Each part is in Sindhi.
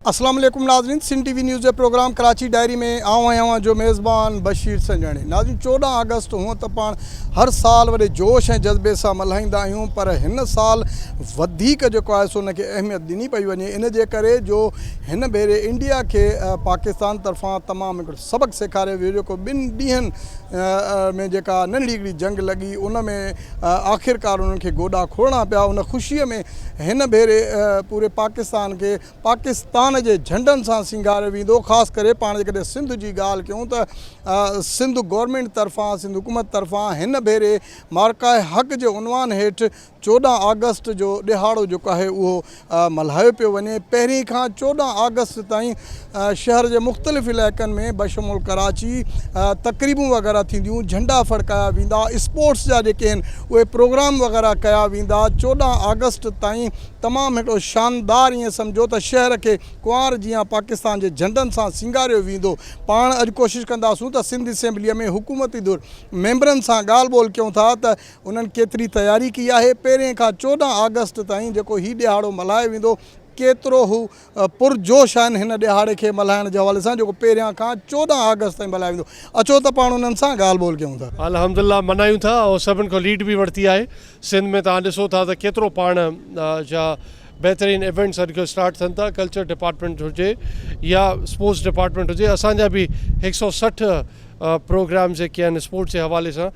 اسلام عليڪم ناظرين سنڌ ٽي وي نيوز جي پروگرام ڪراچي ڊائري ۾ آئون ۽ اوهان جو ميزبان بشير سنجاڻي ناظرين چوڏهن آگسٽ هونء ته پاڻ هر سال وڏي جوش ۽ جذبي سان ملهائيندا آهيون پر هن سال وڌيڪ جيڪو آهي سو ان کي اهميت ڏني پئي وڃي ان جي ڪري جو هن ڀيري انڊيا کي پاڪستان طرفان تمام هڪڙو سبق سيکاريو ويو جيڪو ٻن ڏينهن ۾ جيڪا ننڍڙي هڪڙي جنگ لڳي ان ۾ آخرڪار انهن کي گوڏا کوڙڻا پيا ان خوشي ۾ هن ڀيري پوري پاڪستان کي پاڪستان جي جهنڊن سان سينگاريو ويندو خاص ڪري پاڻ جيڪڏهن سنڌ جي ڳالهه ڪيون ته سنڌ گورنمينٽ طرفان سنڌ حڪومت طرفان هن ڀيري معرڪه حق جي عنوان هيٺ چوڏهن آگسٽ جو ڏهاڙو جيڪو آهي اهو ملهايو پيو وڃي پهرين کان چوڏهن آگسٽ تائين شهر جي مختلف علائقن ۾ بشمول ڪراچي تقريبون وغيره ٿينديون جهنڊا ڦڙڪايا ويندا اسپورٽس جا جيڪي آهن اهي پروگرام وغيره ڪيا ويندا چوڏهن آگسٽ تائين تمام هڪڙو شاندار ائين سمجهو ته شهر کي ڪنوار جيان پاڪستان جي جهنڊن سان سينگاريو ويندو پاڻ اڄ ڪوشش ڪنداسون ته سنڌ اسيمبليء ۾ حڪومتي ڌر ميمبرن سان ڳالهه ٻولهه ڪيون ٿا ته انهن ڪيتري تياري ڪئي آهي؟ پهرين کان چوڏهن آگسٽ تائين جيڪو هي ڏهاڙو ملهايو ويندو، ڪيترو هو پرجوش آهن هن ڏهاڙي کي ملهائڻ جي حوالي سان جيڪو پهريان کان چوڏهن آگسٽ تائين ملهايو ويندو. اچو ته پاڻ انهن سان ڳالهه ٻولهه ڪيون ٿا. الحمدالله ملهايون ٿا ۽ سڀن کان ليڊ به ورتي آهي. سنڌ ۾ توهان ڏسو ٿا ته ڪيترو پاڻ جا بهترين ايونٽس اڄڪلهه اسٽارٽ ٿين ٿا ڪلچر ڊپارٽمينٽ هجي يا اسپورٽس ڊپارٽمينٽ هجي اسان جا به هڪ سئو سٺ پروگرامز جيڪي آهن اسپورٽس جي حوالي سان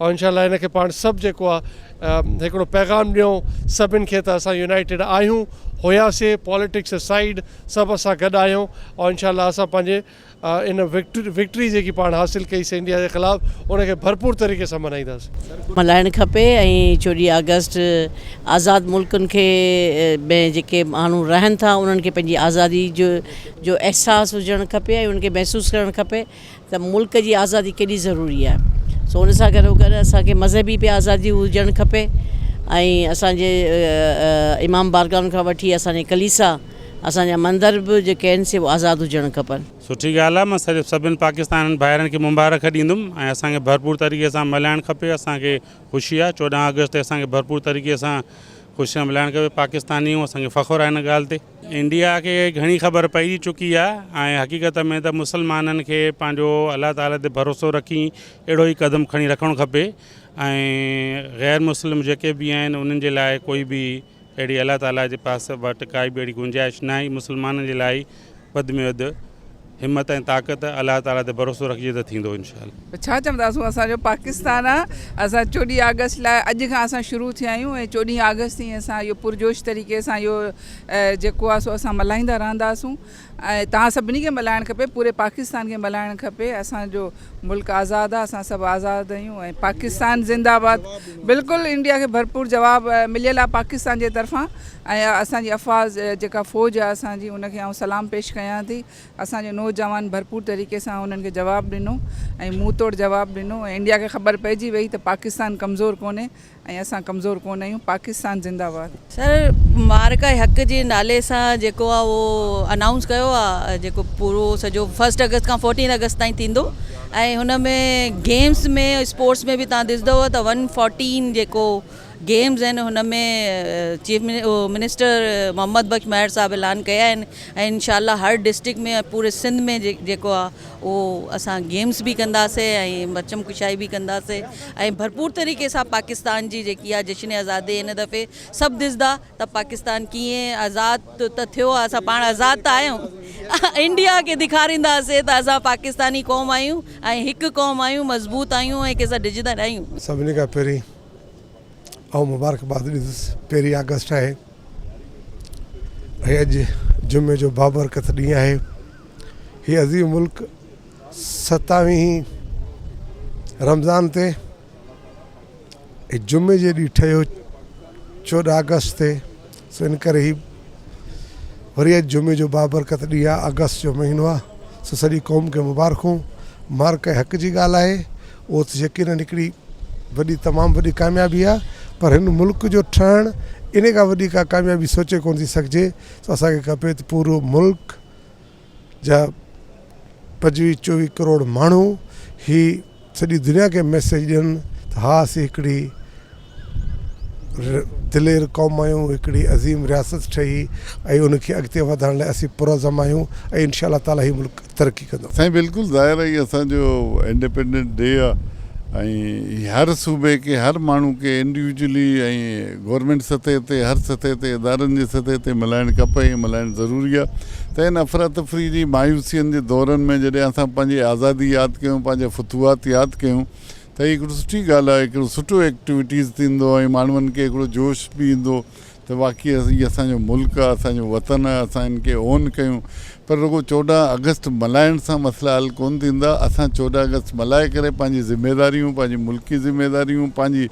ان شاء الله ان کي پاڻ سڀ جيڪو آ هڪڙو پيغام ڏيون سڀن کي ته اسان يونائيٽيڊ آهيون هياسي پاليٽڪس اسائيڊ سڀ اسان گڏ آهيون ان شاء الله اسان پنهنجي ان وڪٽري جيڪي پاڻ حاصل ڪئي سي انڊيا جي خلاف ان کي ڀرپور طريقي سان ملهائينداس ملهائڻ کپي ۽ چوڏهين آگسٽ آزاد ملڪن کي ۾ جيڪي ماڻهو رهن ٿا انهن کي پنهنجي آزادي جو جو احساس هجڻ کپي ۽ ان کي محسوس ڪرڻ کپي ته ملڪ جي آزادي ڪيڏي ضروري آهي سو ان سان گڏو گڏ اسان کي مذهبي به آزادي هجڻ کپي ۽ اسانجي امام بارگاهن کان وٺي اسانجي ڪليسا اسانجا مندر به جيڪي آهن سي آزاد هجڻ کپن. سٺي ڳالهه آهي مان صرف سڀني پاڪستانين ڀائرن کي مبارڪ ڏيندم ۽ اسان کي ڀرپور طريقي سان ملهائڻ کپي اسان کي خوشي آهي چوڏهن آگسٽ تي اسان کي ڀرپور طريقي سان خوشي سان ملهائڻ کپي پاڪستاني آهيون اسان کي فخر آهي ان ڳالهه تي. انڊيا کي گهڻي خبر پئجي چڪي آ ۽ حقيقت ۾ ته مسلمانن کي پنهنجو الله تعالي تي ڀروسو رکي اهڙو ئي قدم کڻي رکڻ کپي ۽ غير مسلم جيڪي به آهن انهن جي لاء ڪوئي به اهڙي الله تعالي جي پاس وٽ ڪائي به اهڙي گنجائش ناهي مسلمانن جي لاء وڌ ۾ وڌ همت ۽ طاقت الله تعالي تي ڀروسو رکجي ته ٿيندو انشاء الله. ڇا چونداسون اسان جو پاڪستان آ اسان چوڏهين آگسٽ لاء اڄ کان اسان شروع ٿيا آهيون ۽ چوڏهين آگسٽ تائين اسان اهو پرجوش طريقي سان اهو جيڪو آ سو اسان ملهائيندا رهنداسون ۽ توهان سڀني کي ملهائڻ کپي پوري پاڪستان کي ملهائڻ کپي اسان جو ملڪ آزاد آ اسان سڀ آزاد اھيون ۽ پاڪستان زنده باد بلڪل انڊيا کي ڀرپور جواب مليل آ پاڪستان جي طرفان ۽ اسان جي افواج جيڪا فوج آ اسان جي ان کي آئون سلام پيش ڪيان ٿي اسان جي نوجوان ڀرپور طريقي سان انھن کي جواب ڏنو ۽ منھن توڙ جواب ڏنو ۽ انڊيا کي خبر پئجي وئي ته پاڪستان ڪمزور ڪونھي ۽ اسان ڪمزور ڪونه آهيون پاڪستان زنده باد. سر معرڪه حق جي نالي سان جيڪو آ اهو انائونس ڪيو آ جيڪو پورو سڄو فرسٽ اگست کان فورٽين اگست تائين ٿيندو ۽ هن ۾ گيمس ۾ اسپورٽس ۾ به تان ڏسدؤ ته ون فورٽين جيڪو گيمس آهن هن ۾ چيف منسٽر محمد بخش مهر صاحب اعلان ڪيا آهن ۽ انشاء الله هر ڊسٽرڪ ۾ پوري سنڌ ۾ جيڪو آ اهو اسان گيمز به ڪنداسي ۽ برچم ڪشائي به ڪنداسي ۽ ڀرپور طريقي سان پاڪستان جي جيڪي آ جشن آزادي هن دفعي سڀ ڏسدا ته پاڪستان ڪيئن آزاد ته ٿيو آ اسان پاڻ آزاد ته آهيون انڊيا کي ڏيکارينداسي ته اسان پاڪستاني قوم آهيون ۽ هڪ قوم آهيون مضبوط آهيون ۽ ڪنهن سان ڊڄندا ناهيون. سڀني کان پهرين آئون مبارڪباد ڏيندس پهرين آگسٽ آهي ۽ اڄ جمعي جو بابرڪت ڏينهن آهي هي عظيم ملڪ ستاويهين رمضان تي جمعي جي ڏينهن ٺهيو چوڏهن آگسٽ تي سو ان ڪري هي وري اڄ جمعي جو بابرڪت ڏينهن آهي آگسٽ جو مهينو آهي سو سڄي قوم کي مبارڪون مارڪ ۽ حق جي ڳالهه آهي اهو ته يقينن هڪڙي وڏي تمام وڏي ڪاميابي آهي پر هن ملڪ جو ٺهڻ ان کان وڏي ڪا ڪاميابي سوچي ڪونه ٿي سگهجي سو اسان کي کپي ته پورو ملڪ جا پنجويهه چوويهه ڪروڙ ماڻهو هي سڄي دنيا کي ميسيج ڏين ته ها اسين هڪڙي دلير قوم آهيون هڪڙي عظيم رياست ٺهي ۽ ان کي اڳتي وڌائڻ لاء اسين پرعزم آهيون ۽ انشاء الله تعالٰي هي ملڪ ترقي ڪندو. سائين بلڪل ظاهر آهي اسان جو انڊيپينڊنٽ ڊي آهي ۽ هر صوبي کي هر ماڻهو کي انڊيوجلي ۽ گورنمينٽ سطح تي هر سطح تي ادارن جي سطح تي ملهائڻ کپي ۽ ملهائڻ ضروري آهي ته هن افراتفري جي مايوسين جي دورن ۾ جڏهن اسان پنهنجي آزادي ياد ڪيون پنهنجا فتوحات ياد ڪيون ته هي هڪڙو سٺي ڳالهه آهي هڪڙو سٺو ايڪٽويٽيز ٿيندو ۽ ماڻهن کي هڪڙو جوش به ايندو ته واقعي هي اسان جو ملڪ آهي اسان جو وطن آهي اسان هن کي اون ڪيون پر رڳو چوڏهن آگسٽ ملهائڻ سان مسئلا حل ڪون ٿيندا اسان چوڏهن آگسٽ ملهائي ڪري پنهنجي ذميواريون پنهنجي ملڪي ذميواريون پنهنجي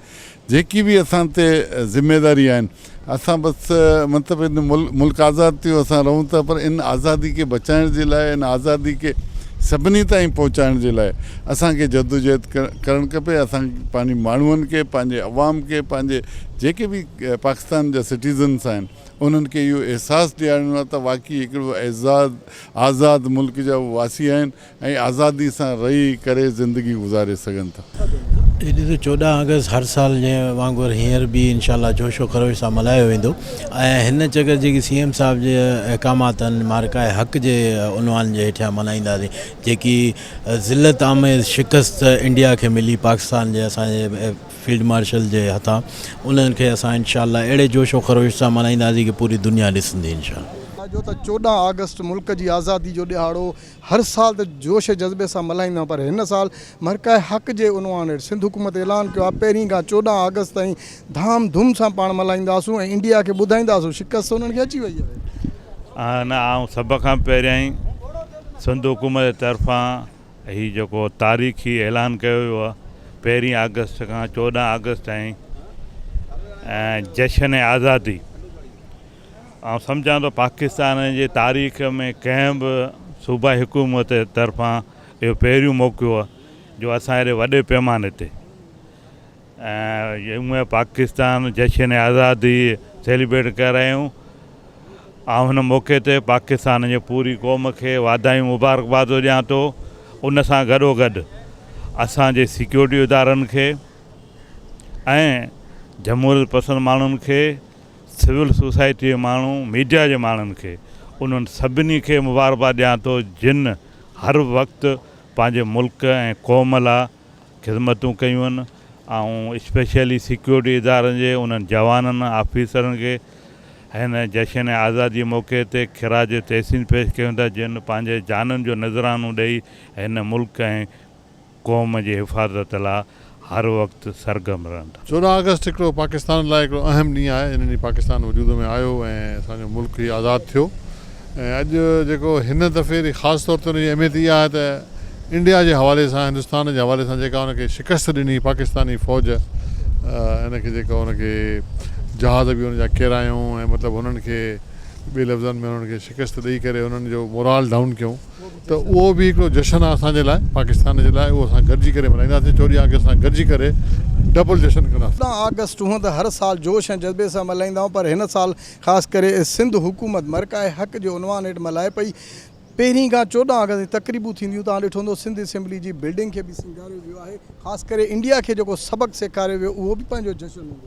جيڪي به اسان تي ذميواري آهن اسان بس مطلب ان ملڪ آزاد ٿيو اسان رهون ٿا پر ان آزادي کي بچائڻ جي لاء ان آزادي کي سڀني تائين پهچائڻ جي لاء اسان کي جدوجهد ڪرڻ کپي اسان پنهنجي ماڻهن کي پنهنجي عوام کي پنهنجي جيڪي به پاڪستان جا سٽيزنس آهن انهن کي اهو احساس ڏيارڻو آهي ته واقعي هڪڙو اعزاز آزاد ملڪ جا هو واسي آهن ۽ آزادي سان رهي ڪري زندگي گذاري سگهن ٿا. هي ڏينهن چوڏهن آگسٽ هر سال جي وانگر هينئر به انشاء الله جوش و خروش سان ملهايو ويندو ۽ هن چڪر جيڪي سي ايم صاحب جي احڪامات آهن معرڪه حق جي عنوان جي هيٺيان ملهائينداسين جيڪي ذلت آميز شڪست انڊيا کي ملي پاڪستان جي اسان جي فيلڊ مارشل جي هٿان انهن کي اسان انشاء الله اهڙي جوش و خروش سان ملهائينداسين ڪي پوري دنيا ڏسندي انشاء الله. ساڳيو ته چوڏهن آگسٽ ملڪ جي آزادي جو ڏهاڙو هر سال ته جوش جذبي سان ملهائيندا آهيون پر هن سال مرڪع حق جي عنوان هيٺ سنڌ حڪومت اعلان ڪيو آهي پهرين کان چوڏهن آگسٽ تائين ڌام ڌوم سان پاڻ ملهائينداسون ۽ انڊيا کي ٻڌائينداسون شڪست انهن کي اچي وئي آهي. آهن آئون سڀ کان پهريائين سنڌ حڪومت جي طرفان هي جيڪو تاريخي اعلان ڪيو ويو آهي پهرين آگسٽ کان چوڏهن آگسٽ تائين جشن آزادي آئون سمجهان ٿو پاڪستان جي تاريخ ۾ ڪنهن به صوبائي حڪومت طرفان اهو پهريون موقعو آهي جو اسان اهڙي وڏي پيماني تي ۽ يوم پاڪستان جشن آزادي سيليبريٽ ڪري رهيا آهيون آئون هن موقعي تي پاڪستان جي پوري قوم کي واڌايون مبارڪباد ٿو ڏيان ٿو ان سان گڏو گڏ اسانجي سيڪيورٽي ادارن کي ۽ جمهوريت پسند ماڻهن کي سول سوسائٽيء جي ماڻهو، ميڊيا جي ماڻهن کي انهن سڀني کي مبارڪباد ڏيان ٿو جن هر وقت پنهنجي ملڪ ۽ قوم لا خدمتون ڪيون آهن ۽ اسپيشلي سيڪيورٽي ادارن جي انهن جوانن آفيسرن کي هن جشن آزادي موقعي تي خراج تحسين پيش ڪيون ٿا جن پنهنجي جانن جو نذرانو ڏئي هن ملڪ ۽ قوم جي حفاظت لا هر وقت سرگرم رهندا. چوڏهن آگسٽ هڪڙو پاڪستان لاء هڪڙو اهم ڏينهن آهي ان ڏينهن پاڪستان وجود ۾ آيو ۽ اسان جو ملڪ هي آزاد ٿيو ۽ اڄ جيڪو هن دفعي ري خاص طور تي ان جي اهميت اها آهي ته انڊيا جي حوالي سان هندستان جي حوالي سان جيڪا ان کي شڪست ڏني پاڪستاني فوج ان کي جيڪا ان کي جهاز به ان جا ڪيرايون ۽ مطلب هنن کي ٻي لفظن ۾ هنن کي شڪست ڏئي ڪري هنن جو مورال ڊائون ڪيون ته اهو به هڪڙو جشن آهي اسان جي لاء پاڪستان جي لاء اهو اسان گڏجي ڪري ملهائينداسين چوڏهن آگسٽ اسان گڏجي ڪري ڊبل جشن ڪنداسين. چوڏهن آگسٽ هونئن ته هر سال جوش ۽ جذبي سان ملهائيندا آهيون پر هن سال خاص ڪري سنڌ حڪومت مرڪع حق جي عنوان هيٺ ملهائي پئي پهرين کان چوڏهن آگسٽ جي تقريبون ٿينديون توهان ڏٺو هوندو سنڌ اسيمبلي جي بلڊنگ کي به سينگاريو ويو آهي خاص ڪري انڊيا کي جيڪو سبق سيکاريو ويو اهو به پنهنجو جشن هوندو.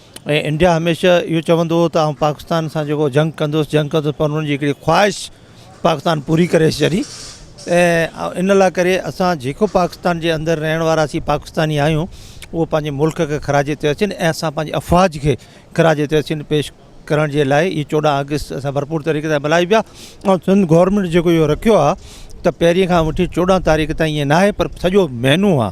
۽ انڊيا هميشه اهو چوندو هو ته آئون پاڪستان سان جيڪو جنگ ڪندس جنگ ڪندس پر انهن جي هڪڙي خواهش پاڪستان پوري ڪري ڇڏي ۽ ان لاء ڪري اسان جيڪو پاڪستان جي اندر رهڻ وارا سي پاڪستاني آهيون اهو پنهنجي ملڪ کي خراج تحسين ۽ اسان پنهنجي افواج کي خراج تحسين پيش ڪرڻ جي لاء هي چوڏهن آگسٽ اسان ڀرپور طريقي سان ملهائي پيا ۽ سنڌ گورنمينٽ جيڪو اهو رکيو آهي ته پهرين کان وٺي چوڏهن تاريخ تائين ائين ناهي پر سڄو مهينو آهي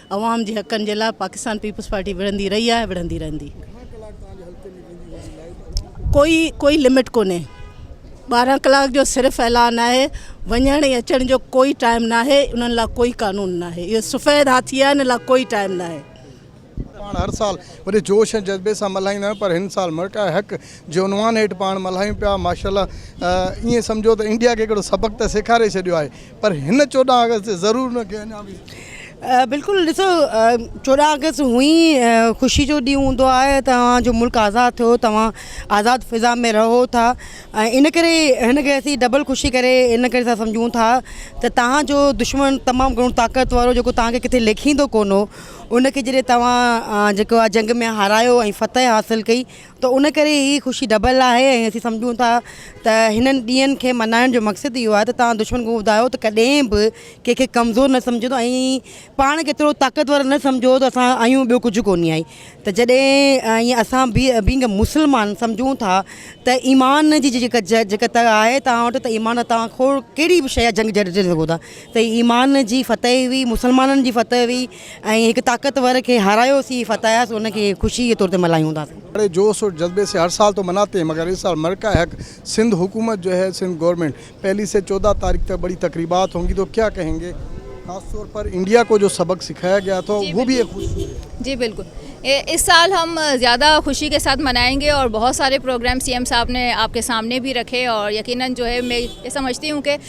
عوام جي حقن جي لاء پاڪستان پيپلز پارٽي وڙهندي رهي آهي وڙهندي رهندي. ڪوئي ڪوئي لمٽ ڪونهي ٻارهن ڪلاڪ جو صرف اعلان آهي وڃڻ ۽ اچڻ جو ڪوئي ٽائيم ناهي انهن لاء ڪوئي قانون ناهي اهو سفيد هاٿي آهن ان لاء ڪوئي ٽائيم ناهي. پاڻ هر سال وڏي جوش ۽ جذبي سان ملهائيندا آهيون پر هن سال مرٽاء حق جي عنوان هيٺ پاڻ ملهايون پيا ماشاءالله ائين سمجهو ته انڊيا کي هڪڙو سبق ته سيکاري ڇڏيو آهي پر هن چوڏهن آگسٽ تي ضرور نه کي اڃا به. بلڪل ڏسو چوڏهن آگسٽ هونء ئي خوشي جو ڏينهن هوندو آهي توهان جو ملڪ آزاد ٿيو توهان آزاد فضا ۾ رهو ٿا ۽ ان ڪري هن کي اسين ڊبل خوشي ڪري ان ڪري ٿا سمجهون ٿا ته توهان جو دشمن تمام گهڻو طاقت وارو جيڪو توهان کي ڪٿي ليکيندو ڪون هو ان کي جڏهن توهان جيڪو آهي جنگ ۾ هارايو ۽ فتح حاصل ڪئي ته ان ڪري هي خوشي ڊبل آهي ۽ اسين سمجهون ٿا ته هنن ڏينهن کي ملهائڻ جو مقصد اهو آهي ته توهان دشمن کان ٻڌايو ته ڪڏهن به ڪنهن کي ڪمزور نه سمجهندو ۽ پاڻ کي ايترو طاقتور نه سمجهو ته اسان آهيون ٻيو ڪجهه ڪونهي آهي ته جڏهن ائين اسان بي بينگ اي مسلمان سمجهون ٿا ته ايمان جي جيڪا جيڪا تڙ آهي توهان وٽ ته ايمان توهان کور ڪهڙي به شيء جا جنگ جڙي سگهو ٿا ته ايمان جي فتح هئي مسلمانن جي فتح هئي ۽ هڪ طاقتور کي هارايوسين، فتاياسين، ان کي خوشي جي طور تي ملهايون ٿا. بڙي جوش اور جذبي سي هر سال تو مناتے هين مگر اس سال مرڪع حق سنڌ حڪومت جو هي سنڌ گورنمنٽ پهلي سي چودهه تاريخ تڪ بڙي تقريبات هونگي تو ڪيا ڪهين گي خاص طور پر انڊيا کو جو سبق سکايا گيا تھا وو بهي ايک خوشي هي. جي بلڪل اس سال هم زياده خوشي کي ساٿ منائين گي اور بهت ساري پروگرام سي ايم صاحب ني آپ کي سامني بهي رکي اور يقينن جو هي مي سمجهتي هون ڪي.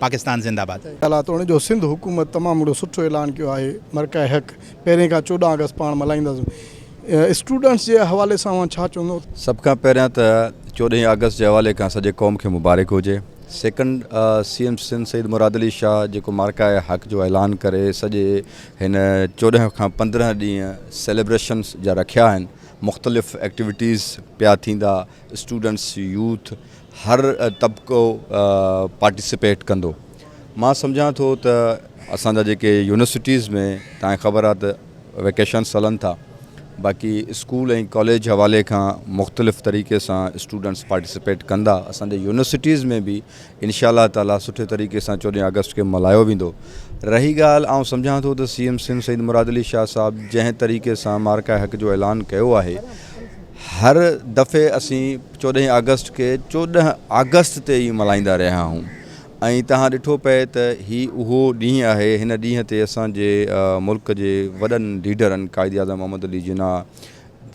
پاڪستان زنده باد. ڳالهه توڻي جو سنڌ حڪومت تمام وڏو سٺو اعلان ڪيو آهي مرڪع حق پهرين کان چوڏهن آگسٽ پاڻ ملهائينداسون اسٽوڊنٽس جي حوالي سان اوهان ڇا چوندو. سڀ کان پهريان ته چوڏهين آگسٽ جي حوالي کان سڄي قوم کي مبارڪ هجي second C M Sindh Syed Murad Ali Shah جيڪو مرڪع حق جو اعلان ڪري سڄي هن چوڏهن کان پندرهن ڏينهن سيليبريشنس جا رکيا آهن مختلف ايڪٽيوٽيز پيا ٿيندا اسٽوڊنٽس يوٿ هر طبقو پارٽيسپيٽ ڪندو مان سمجهان ٿو ته اسان جا جيڪي يونيورسٽيز ۾ تاڻي خبر آهي ته ويڪيشنس هلن ٿا باقي اسڪول ۽ ڪاليج حوالي کان مختلف طريقي سان اسٽوڊنٽس پارٽيسپيٽ ڪندا اسان جي يونيورسٽيز ۾ بي انشاء الله تعالي سٺي طريقي سان چوڏهن آگسٽ کي ملهايو ويندو. رهي ڳالهه آئون سمجهان ٿو ته سي ايم سنڌ سيد مراد علي شاهه صاحب جنهن طريقي سان معرڪه حق جو اعلان ڪيو آهي هر دفعي اسين چوڏهين آگسٽ کي چوڏهن آگسٽ تي ئي ملهائيندا رهيا آهون ۽ تهان ڏٺو پئي ته هي اهو ڏينهن آهي هن ڏينهن تي اسان جي ملڪ جي وڏن ليڊرن قائد اعظم محمد علي جناح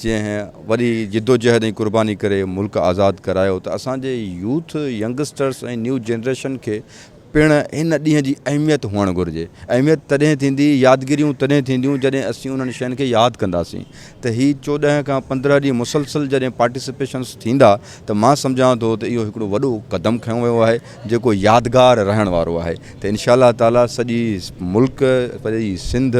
جنهن وڏي جدوجهد ۽ قرباني ڪري ملڪ آزاد ڪرايو ته اسان جي يوٿ، ينگسٽرس ۽ نيو جنريشن کي پڻ ان ڏينهن جي اهميت هئڻ گهرجي. اهميت تڏهن ٿيندي، يادگيريون تڏهن ٿينديون جڏهن اسين انهن شين کي ياد ڪنداسين ته هي چوڏهن کان پندرهن ڏينهن مسلسل جڏهن پارٽيسپيشنس ٿيندا ته مان سمجهان ٿو ته اهو هڪڙو وڏو قدم کنيو ويو آهي جيڪو يادگار رهڻ وارو آهي ته انشاء الله تعالي سڄي ملڪ سڄي سنڌ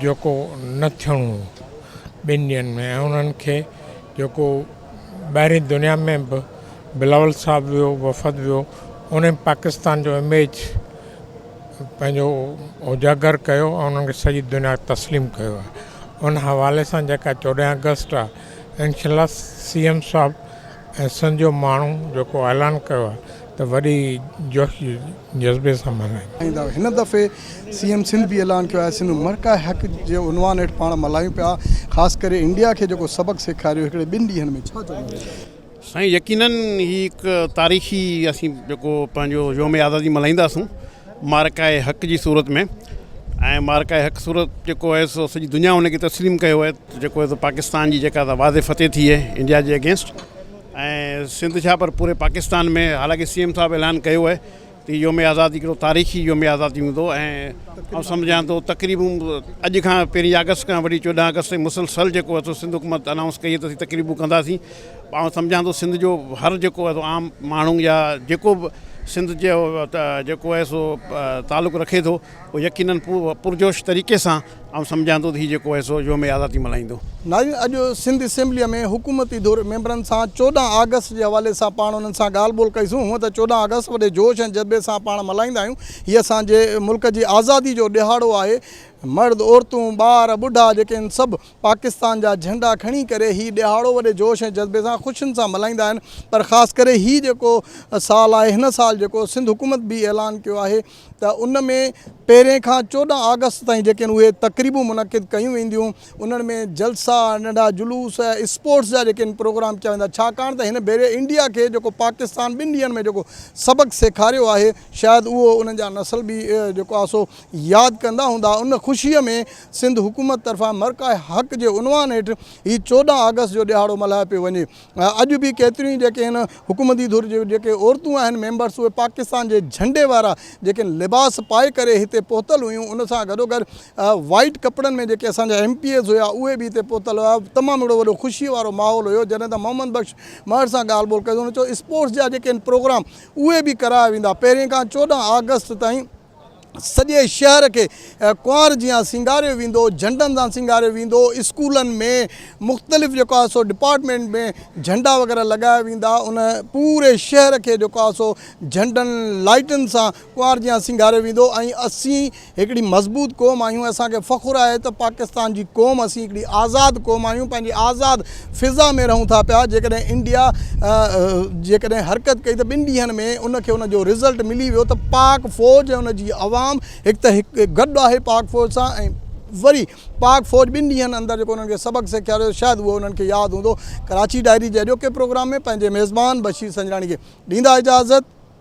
جيڪو نه ٿيڻو هو ٻن ڏينهن ۾ ۽ انهن کي جيڪو ٻاهرين دنيا ۾ به بلاول صاحب ويو وفد ويو ان پاڪستان جو اميج پنهنجو اجاگر ڪيو ۽ انهن کي سڄي دنيا تسليم ڪيو آهي ان حوالي سان جيڪا چوڏهن اگسٽ آهي انشاء الله سی ايم صاحب ايسن جو ماڻهو جيڪو اعلان ڪيو آهي ته وڏي جوش جذبي سان ملهايون. هن دفعي سي ايم سنڌ به اعلان ڪيو آهي سنڌ مرڪع حق جي عنوان هيٺ پاڻ ملهايون پيا خاص ڪري انڊيا کي جيڪو سبق سيکاريو هڪڙي ٻن ڏينهن ۾ ڇا چوڻو اٿس. سائين يقينن هي هڪ تاريخي اسين جيڪو پنهنجو يوم آزادي ملهائينداسون معرڪه حق جي صورت ۾ ۽ معرڪه حق صورت جيڪو آهي سو سڄي دنيا ان کي تسليم ڪيو آهي جيڪو آهي سو پاڪستان جي جيڪا واضح فتح ٿي آهي انڊيا جي اگينسٽ ۽ سنڌ ڇا پر پوري پاڪستان ۾ حالانڪه سي ايم صاحب اعلان ڪيو آهي ته يوم آزادي هڪڙو تاريخي يوم آزادي هوندو ۽ سمجهان ٿو تقريبون اڄ کان پهرين آگسٽ کان وٺي چوڏهن آگسٽ تائين مسلسل جيڪو آهي سو سنڌ حڪومت انائونس ڪئي ته اسين تقريبون ڪنداسين آئون سمجهان ٿو سنڌ جو هر جيڪو آهي سو عام ماڻهو يا جيڪو به سنڌ جي جيڪو آهي سو تعلق رکي ٿو اهو يقينن پرجوش طريقي سان آئون سمجهان ٿو ته هي جيڪو آهي سو يوم آزادي ملهائيندو. ناظرين اڄ سنڌ اسيمبليء ۾ حڪومتي ڌر ميمبرن سان چوڏهن آگسٽ جي حوالي سان پاڻ انهن سان ڳالهه ٻولهه ڪئي سون هونئن ته چوڏهن آگسٽ وڏي جوش ۽ جذبي سان پاڻ ملهائيندا آهيون هي اسان جي ملڪ جي آزادي جو ڏهاڙو آهي مرد عورتون ٻار ٻڍا جيڪي ان سڀ پاڪستان جا جهنڊا کڻي ڪري هي ڏهاڙو وڏي جوش ۽ جذبي سان خوشين سان ملهائيندا آهن پر خاص ڪري هي جيڪو سال آهي هن سال جيڪو سنڌ حڪومت به اعلان ڪيو آهي ته ان ۾ پهرين کان چوڏهن آگسٽ تائين جيڪي آهن اهي تقريبون منعقد ڪيون وينديون انهن ۾ جلسا ننڍا جلوس اسپورٽس جا جيڪي آهن پروگرام ڪيا ويندا ڇاڪاڻ ته هن ڀيري انڊيا کي جيڪو پاڪستان ٻن ڏينهن ۾ جيڪو سبق سيکاريو آهي شايد اهو انهن جا نسل به جيڪو آهي سو ياد ڪندا هوندا ان خوشي ۾ سنڌ حڪومت طرفان مرڪع حق جي عنوان هيٺ هي چوڏهن آگسٽ جو ڏهاڙو ملهايو پيو وڃي. اڄ به ڪيتريون ئي جيڪي هن حڪومتي ڌر جون جيڪي عورتون آهن ميمبرس اهي پاڪستان جي جهنڊي وارا جيڪي لباس پائي ڪري هتي پهتل هيون ان سان گڏوگڏ وائيٽ ڪپڙن ۾ جيڪي اسان جا ايم پي ايز هيا اهي به هتي پهتل هيا تمام اهڙو وڏو خوشي وارو ماحول هيو جڏهن ته محمد بخش مهر سان ڳالهه ٻولهه ڪئي هن چيو اسپورٽس جا جيڪي آهن پروگرام اهي به ڪرايا ويندا پهرين کان چوڏهن آگسٽ تائين سڄي شهر کي ڪنوار جيان سينگاريو ويندو جهنڊن سان سينگاريو ويندو اسڪولن ۾ مختلف جيڪو آهي سو ڊپارٽمينٽ ۾ جهنڊا وغيره لڳايا ويندا ان پوري شهر کي جيڪو آهي سو جهنڊن لائٽن سان ڪنوار جيان سينگاريو ويندو ۽ اسين هڪڙي مضبوط قوم آهيون اسان کي فخر آهي ته پاڪستان جي قوم اسين هڪڙي آزاد قوم آهيون پنهنجي آزاد فضا ۾ رهون ٿا پيا جيڪڏهن انڊيا جيڪڏهن حرڪت ڪئي ته ٻن ڏينهن ۾ ان کي ان جو رزلٽ ملي ويو ته پاڪ فوج ۽ ان جي عوام هڪ ته هڪ گڏ آهي پاڪ فوج سان ۽ وري پاڪ فوج ٻن ڏينهن اندر جيڪو انهن کي سبق سيکاريو شايد اهو انهن کي ياد هوندو ڪراچي ڊائري جي اڄوڪي پروگرام ۾ پنهنجي ميزبان بشير سنجراڻي کي ڏيندا اجازت.